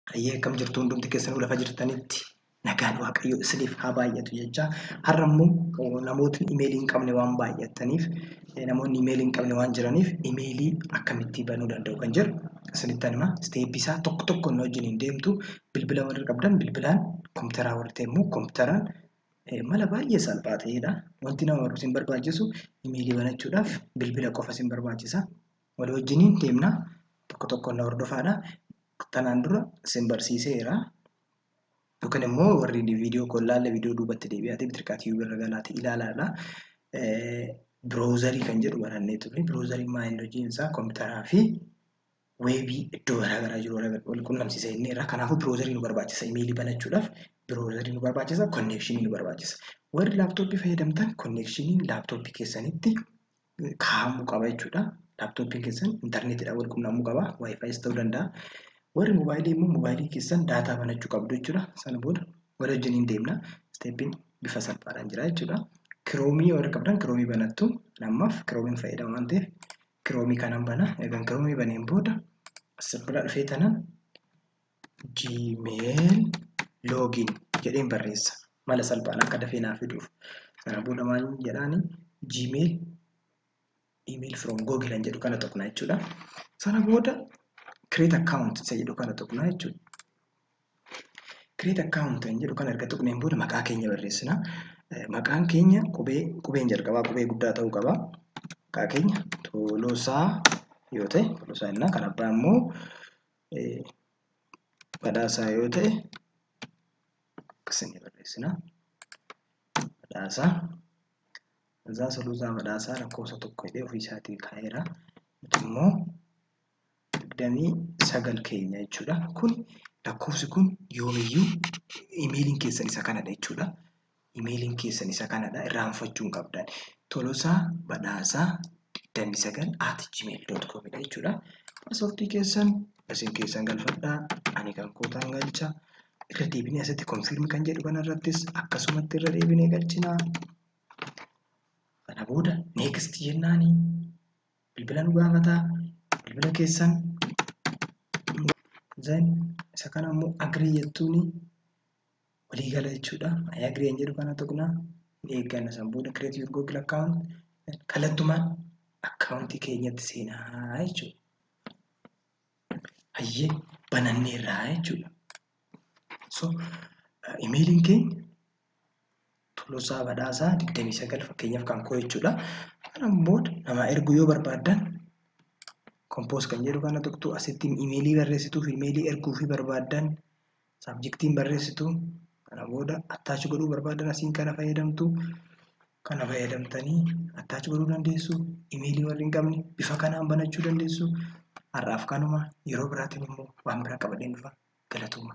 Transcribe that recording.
Hayyee akkam jirtu hundumti keessanuu lafa jirtanitti nagaan waaqayyo isiniif haa baay'atu jecha har'a immoo namootni imeelii hin qabne waan baay'ataniif namoonni imeelii hin qabne waan jiraniif imeelii akkamittii banuu danda'u kan jedhu isinitti hima isteeppii isaa tokko tokko inni wajjin hin deemtu bilbila warri qabdan bilbilaan kompiitaraa warri ta'e immoo kompiitaraan mala baay'ee salphaa ta'edha wanti nama barumsa hin barbaachisu imeelii banachuudhaaf bilbila qofa isin barbaachisa Wal wajjiniin deemna. Tokko tokkoon na hordofaadha. Tanaan dura sin barsiiseera. Yookiin immoo warri viidiyoo koo ilaalle viidiyoo duubatti deebi'aatee bitirqaa tiyuubii irra galaati ilaalaadha. Biroozarii kan jedhu barannee turre. Biroozariin maa inni hojiin isaa kompiitaraa fi weebii iddoo garaagaraa jiru wal qunnamsiisa inni irraa. Kanaafuu biroozarii nu barbaachisa. Imeelii banachuudhaaf biroozarii nu barbaachisa. Konneekshinii nu barbaachisa. Warri laaptooppii fayyadamtan konneekshiniin laaptooppii keessanitti kaa'amuu qaba jechuudha. Laaptooppiin keessan intarneetiidhaan wal qunnamuu qaba. Waayifaayiis ta'uu danda'a. Warri moobaayilii immoo moobaayilii keessan daataa banachuu qabdu jechuudha. Sana booda wal wajjin hin deemna. Isteeppiin bifa salphaadhaan jira jechuudha. Kiroomii warri qabdan kiroomii banattu. Ammaaf kiroomiin fayyadama waan ta'eef kiroomii kanan bana. Eegan kiroomii baneen booda asirra dhufee tanan gmail login jedheen barreessa mala salphaan akka dafee naa fiduuf sana booda maal jedhaani gmail email from google kan jedhu kana tuqna jechuudha sana booda create account isa jedhu kana tuqna jechuudha create account kan jedhu kana erga tuqneen booda maqaa keenya barreessina maqaan keenya qubee qubeen jalqabaa qubee guddaa ta'uu qaba maqaa keenya tolosaa yoo ta'e tolosaa innaa kan abbaa immoo badhaasaa yoo ta'e akkasini barreessina. Badhaasaa Azaa Suluusaa Badhaasaa lakkoofsa tokko jedhee ofii isaatii kaa'eera. Nuti immoo digdamii sagal keenya jechuudha. Kun lakkoofsi kun yoomiyyuu imeeliin keessan isa kanadha jechuudha. Email'n keessan isa kanadha irraanfachuu hin qabdan. Tolosaa Badhaasaa 29 at gmail.com dha jechuudha. Paaswordii keessan isin keessan galfadhaa ani kan kootaan galcha. Irra deebinee asitti confirm kan jedhu kanarrattis akkasumatti irra deebinee galchinaa. Kana booda next jennaani bilbila nu gaafataa bilbila keessan then isa kana immoo agree jettuuni walii gala jechuudha. I agree hin jedhu kana tuqna. Ni eegganna san booda create your Google account kallattumaan akkaawuntii keenyatti seenaa jechuudha. Hayyee bananneerraa jechuudha. So imeeliin keenya Tolosaa Badhaasaa 29 fakkeenyaaf kan koo jechuudha. Kana booda namaa erguu yoo barbaaddan kompoos kan jedhu kana tuqtu asitti imeelii barreessituuf imeelii erguu fi barbaaddan Saabjektiin barreessitu kana booda attach godhuu barbaadan asiin kana fayyadamtu. Kana fayyadamtanii attach godhuu dandeessu. Imeelii warri hin qabne bifa kanaan banachuu dandeessu. Har'aaf kanuma yeroo biraatiin immoo waan biraa qabadheen dhufa. Galatooma.